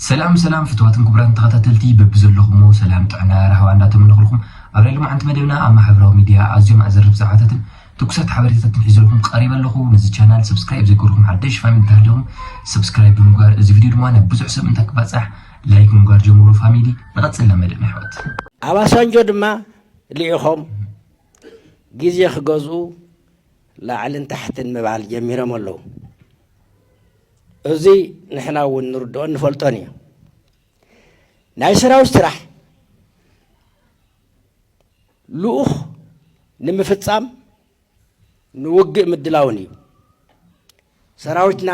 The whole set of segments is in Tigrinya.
ሰላም ሰላም ፍትዋትን ክቡራትን ተኸታተልቲ በብዘለኹሞ ሰላም ጥዕና ራህዋ እንዳተመነኹልኩም ኣብ ናይ ሎማዓንቲ መደብና ኣብ ማሕበራዊ ሚድያ ኣዝዮም ኣዘርብ ዛዕባታትን ትኩሳት ሓበሬታታትን ሒዘልኩም ቀሪበ ኣለኹ ነዚ ቻናል ሰብስክራይብ ዘይገርኩም ሓደሽ ፋሚሊ እንተሃለኹም ሰብስክራይብ ብምግባር እዚ ቪድዮ ድማ ናብ ብዙሕ ሰብ እንታይ ክባፃሕ ላይክ ምንጓር ጀምሮ ፋሚሊ ንቐፅል ናብ መደብ ኣሕዋት ኣብ ኣሳንጆ ድማ ልኢኾም ግዜ ክገዝኡ ላዕልን ታሕትን ምባል ጀሚሮም ኣለዉ እዚ ንሕና እውን ንርድኦን ንፈልጦን እዩ ናይ ሰራዊት ስራሕ ልኡኽ ንምፍፃም ንውግእ ምድላውን እዩ ሰራዊትና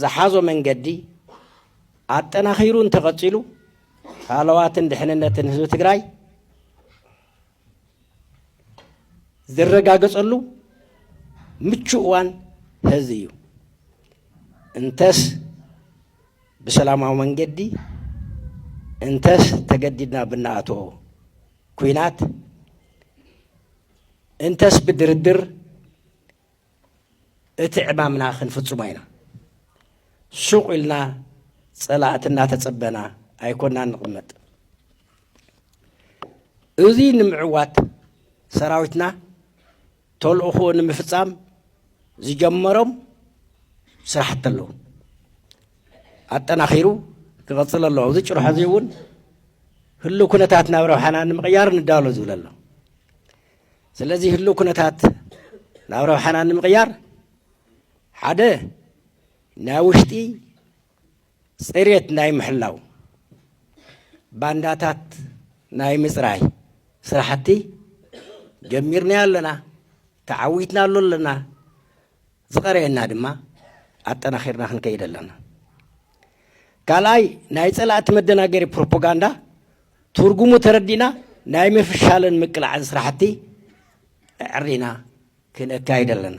ዝሓዞ መንገዲ ኣጠናኺሩ እንተቐፂሉ ሃለዋትን ድሕንነትን ህዝቢ ትግራይ ዝረጋገፀሉ ምቹ እዋን ሀዚ እዩ። እንተስ ብሰላማዊ መንገዲ እንተስ ተገዲድና ብናኣትኦ ኩናት እንተስ ብድርድር እቲ ዕማምና ክንፍፅሞ ኢና። ሱቕ ኢልና ፀላእቲ እናተፀበና ኣይኮናን ንቕመጥ። እዚ ንምዕዋት ሰራዊትና ተልእኾኡ ንምፍፃም ዝጀመሮም ስራሕቲ ኣለዉ። ኣጠናኺሩ ክቐፅል ኣለዎ። ኣብዚ ጭርሖ እዚ እውን ህሉ ኩነታት ናብ ረብሓና ንምቕያር ንዳሎ ዝብል ኣሎ። ስለዚ ህልው ኩነታት ናብ ረብሓና ንምቕያር ሓደ ናይ ውሽጢ ፅሬት ናይ ምሕላው ባንዳታት ናይ ምፅራይ ስራሕቲ ጀሚርና ኣለና ተዓዊትና ኣሎ ኣለና ዝቐረየና ድማ ኣጠናኺርና ክንከይድ ኣለና። ካልኣይ ናይ ፀላእቲ መደናገሪ ፕሮፖጋንዳ ትርጉሙ ተረዲእና ናይ ምፍሻልን ምቅላዕን ስራሕቲ ኣዕሪና ክነካይድ ኣለና።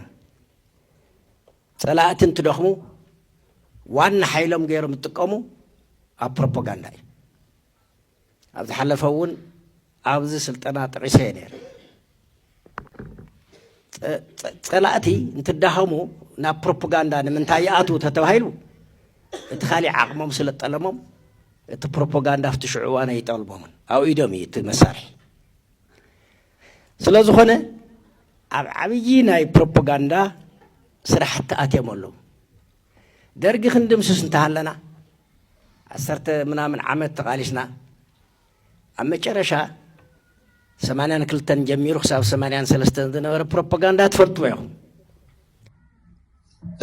ፀላእቲ እንትደኽሙ ዋና ሓይሎም ገይሮም ዝጥቀሙ ኣብ ፕሮፖጋንዳ እዩ። ኣብ ዝሓለፈ እውን ኣብዚ ስልጠና ጠቂሰ እየ ነይረ ፀላእቲ እንትዳኸሙ ናብ ፕሮፓጋንዳ ንምንታይ ይኣትዉ ተተባሂሉ እቲ ካሊእ ዓቕሞም ስለ ጠለሞም እቲ ፕሮፓጋንዳ ኣብቲ ሽዑ እዋን ኣይጠልሞምን ኣብ ኢዶም እዩ እቲ መሳርሒ ስለ ዝኾነ ኣብ ዓብዪ ናይ ፕሮፓጋንዳ ስራሕቲ ኣትዮም ኣለዉ ደርጊ ክንድምስስ እንተሃለና ዓሰርተ ምናምን ዓመት ተቓሊስና ኣብ መጨረሻ ሰማንያን ክልተን ጀሚሩ ክሳብ ሰማንያን ሰለስተን ዝነበረ ፕሮፓጋንዳ ትፈልጥዎ ኢኹም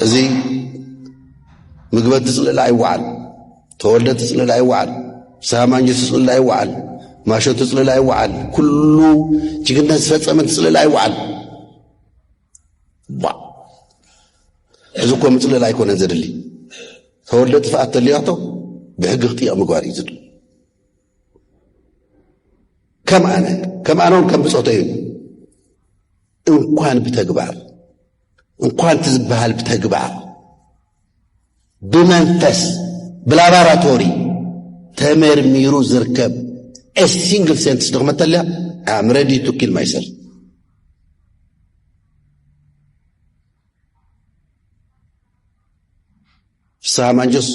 እዚ ምግበቲ ፅልእላ ኣይወዓል ተወልደ ትፅልል ኣይወዓል ሳማኝ ትፅልል ኣይወዓል ማሾ ትፅልል ኣይወዓል ኩሉ ጅግነት ዝፈፀመ ትፅልል ኣይወዓል እዚ እኮ ምፅልል ኣይኮነን ዘድሊ ተወልደ ጥፍኣት ተልያቶ ብሕጊ ክጥየቕ ምግባር እዩ ዝድሊ ከም ኣነ ከም ኣነ እውን ከም ብፆተ እዩ እንኳን ብተግባር እንኳን እቲ ዝበሃል ብተግባር ብመንፈስ ብላባራቶሪ ተመርሚሩ ዝርከብ ሲንግል ሴንትስ ድኽመት ተልያ ኣም ረዲ ቱ ኪል ማይሰልፍ ፍስሃ ማንጆስ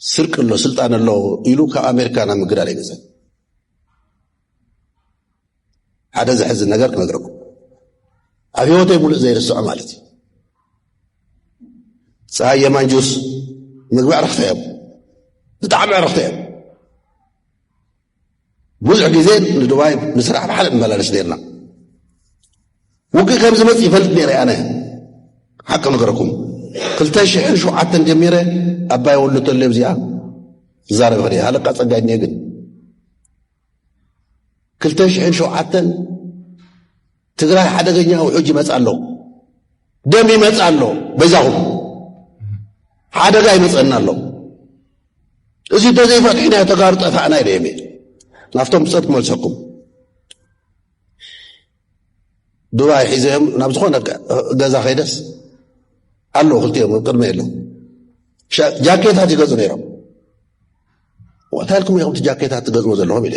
ስርቅ ኣሎ ስልጣን ኣሎ ኢሉ ካብ ኣሜሪካ ናብ ምግዳል ይገዘ ሓደ ዘሕዝን ነገር ክነግረኩም ኣብ ህይወተይ ሙሉእ ዘይርስዖ ማለት እዩ ፀሃየ ማንጁስ ምግቢ ዕረፍተ እዮም ብጣዕሚ ዕረፍተ እዮም ብዙሕ ግዜ ንዱባይ ንስራሕ ብሓደ ንመላለስ ነርና ውግእ ከም ዝመፅ ይፈልጥ ነረ ኣነ ሓቂ ነገረኩም ክልተ ሽሕን ሸውዓተን ጀሚረ ኣባይ ወሉ ተሎ ዚኣ ዝዛረብ ኸ ሃለቃ ፀጋይ እኒ ግን ክልተ ሽሕን ሸውዓተን ትግራይ ሓደገኛ ውሑጅ ይመጽእ ኣሎ፣ ደም ይመጽእ ኣሎ፣ በይዛኹም ሓደጋ ይመጽእና ኣሎ። እዚ እንተዘይፈትሕናዮ ተጋሩ ጠፋእና ኢለ እየ ናብቶም ብፀት ክመልሰኩም ዱባይ ሒዘዮም ናብ ዝኾነ ገዛ ከይደስ ኣሎ ክልቲኦም ቅድመ የለ ጃኬታት ይገዙ ነይሮም እንታይ ኢልኩም ኢኹም እቲ ጃኬታት ትገዝሞ ዘለኹም ኢለ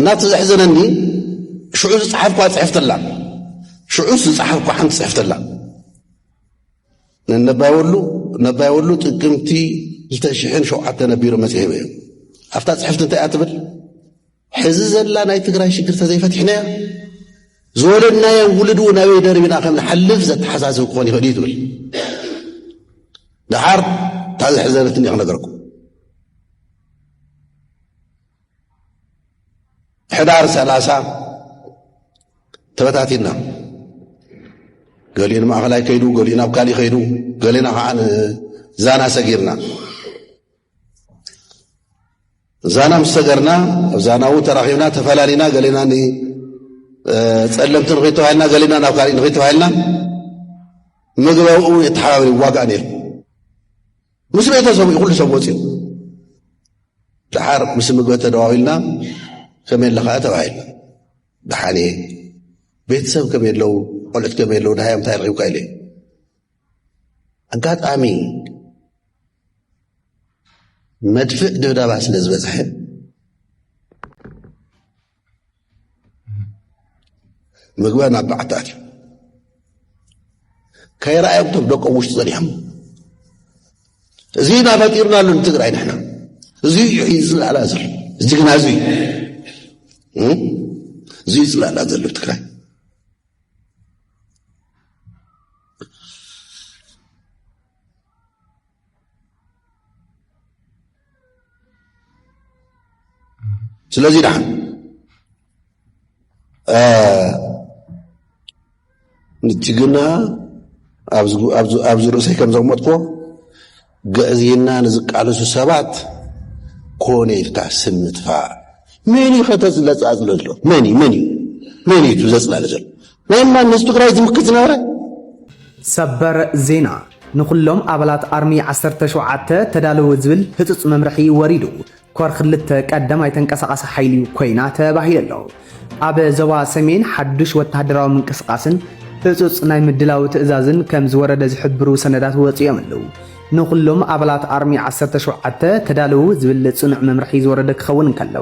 እና እቲ ዘሕዘነኒ ሽዑ ዝፀሓፍኳ ፅሕፍቲ ኣላ ሽዑስ ዝፀሓፍኳ ሓንቲ ፅሕፍቲ ኣላ ነባይ ወሉ ነባይ ወሉ ጥቅምቲ 2007 ነቢሩ መፅሔ እዮም ኣብታ ፅሕፍቲ እንታይ እያ ትብል ሕዚ ዘላ ናይ ትግራይ ሽግር ተዘይፈቲሕናያ ዝወለድናዮ ውልድ እውን ኣበይ ደርቢና ከም ንሓልፍ ዘተሓሳስብ ክኾን ይኽእል እዩ ትብል ደሓር እታ ዘሕዘነትኒ ክነገርኩም ሕዳር ሰላሳ ተበታቲና ገሊኡ ንማእኸላይ ከይዱ ገሊኡ ናብ ካሊእ ከይዱ ገሊና ከዓ ዛና ሰጊርና ዛና ምስ ሰገርና ኣብ ዛናዊ ተራኺብና ተፈላሊና ገሊና ፀለምቲ ንክይተባሂልና ገሊና ናብ ካሊእ ንክይተባሂልና ምግበብኡ የተሓባብሪ ዋጋእ ነይሩ ምስ ቤተሰቡ እዩ ኩሉ ሰብ ወፅኡ ድሓር ምስ ምግበ ተደዋዊልና ከመይ ኣለኻ ተባሂልና ድሓን እየ ቤተሰብ ከመይ ኣለዉ ቆልዑት ከመይ ኣለዉ ድሃዮም እንታይ ረኪብካ ኢለ ኣጋጣሚ መድፍእ ድብዳባ ስለ ዝበፅሐ ምግበ ናብ በዓቲ ኣትዩ ከይረኣዮም ቶም ደቆም ውሽጢ ጸኒሖም እዚ ኢና ፈጢርና ኣሎ ንትግራይ ንሕና እዚ እዩ ዝለዓላ ዘሎ እዚ ግና እዚ እዩ እዚ እዩ ዝለዓላ ዘሎ ትግራይ ስለዚ ዳሓ ንጅግና ኣብዚ ርእሰይ ከም ዘቕመጥኮ ግዕዝይና ንዝቃለሱ ሰባት ኮነ ኢልካ ስም ምጥፋእ መን ዩ ከተዝለፃፅለ ኣሎ መን እዩ መን እዩ መን እዩ ዘፅላለ ዘሎ ናይ ማን ንህዝቢ ትግራይ ዝምክት ዝነበረ? ሰበር ዜና! ንኹሎም ኣባላት ኣርሚ ዓሰርተ ሸውዓተ ተዳለዉ ዝብል ህጹጽ መምርሒ ወሪዱ። ኮር ክልተ ቀዳማይ ተንቀሳቓሲ ሓይሊ ኮይና ተባሂሉ ኣሎ። ኣብ ዞባ ሰሜን ሓዱሽ ወተሃደራዊ ምንቅስቓስን ህጹጽ ናይ ምድላው ትእዛዝን ከም ዝወረደ ዝሕብሩ ሰነዳት ወጺኦም ኣለዉ። ንኹሎም ኣባላት ኣርሚ ዓሰርተ ሸውዓተ ተዳለዉ ዝብል ጽኑዕ መምርሒ ዝወረደ ክኸውን እንከሎ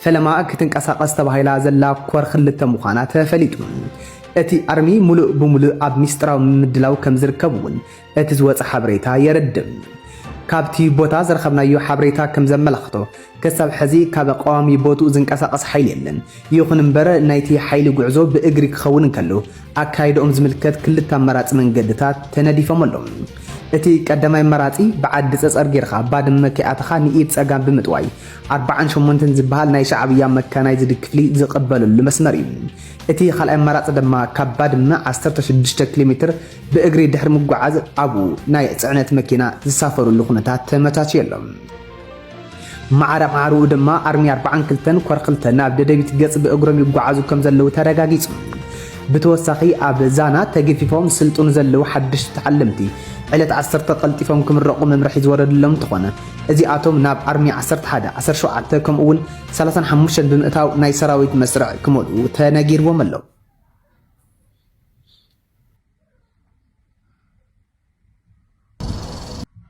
ፈለማ ክትንቀሳቐስ ተባሂላ ዘላ ኮር ክልተ ምዃና ተፈሊጡ። እቲ ኣርሚ ሙሉእ ብሙሉእ ኣብ ሚስጥራዊ ምምድላው ከምዝርከብ እውን እቲ ዝወፀ ሓበሬታ የረድእ። ካብቲ ቦታ ዝረኸብናዮ ሓበሬታ ከምዘመላኽቶ ክሳብ ሕዚ ካብ ቀዋሚ ቦትኡ ዝንቀሳቐስ ሓይሊ የለን። ይኹን እምበር ናይቲ ሓይሊ ጉዕዞ ብእግሪ ክኸውን እንከሎ ኣካይዳኦም ዝምልከት ክልተ ኣማራፂ መንገድታት ተነዲፎም ኣለው። እቲ ቀዳማይ ኣማራፂ ብዓዲ ፀፀር ገይርኻ ባድመ ከይኣተኻ ንኢድ ፀጋም ብምጥዋይ ኣርባዓን ሸሞንተን ዝበሃል ናይ ሻዕብያ መካናይዝድ ክፍሊ ዝቕበለሉ መስመር እዩ። እቲ ካልኣይ ኣማራጺ ድማ ካብ ባድመ ዓሰርተ ሽዱሽተ ኪሎ ሜትር ብእግሪ ድሕሪ ምጉዓዝ ኣብኡ ናይ ጽዕነት መኪና ዝሳፈርሉ ኩነታት ተመቻችዩ ኣሎ። ማዕረ ማዕረኡ ድማ ኣርሚ ኣርባዓን ክልተን ኮር ክልተ ናብ ደደቢት ገጽ ብእግሮም ይጓዓዙ ከም ዘለዉ ተረጋጊጹ። ብተወሳኺ ኣብ ዛና ተገፊፎም ዝስልጥኑ ዘለዉ ሓደሽቲ ተዓለምቲ ዕለት ዓሰርተ ቀልጢፎም ክምረቑ መምርሒ ዝወረደሎም እንተኾነ እዚኣቶም ናብ ኣርሚ ዓሰርተ ሓደ፣ ዓሰርተ ሸውዓተ ከምኡ እውን ሰላሳን ሓሙሽተን ብምእታው ናይ ሰራዊት መስርዕ ክመልኡ ተነጊርዎም ኣሎ።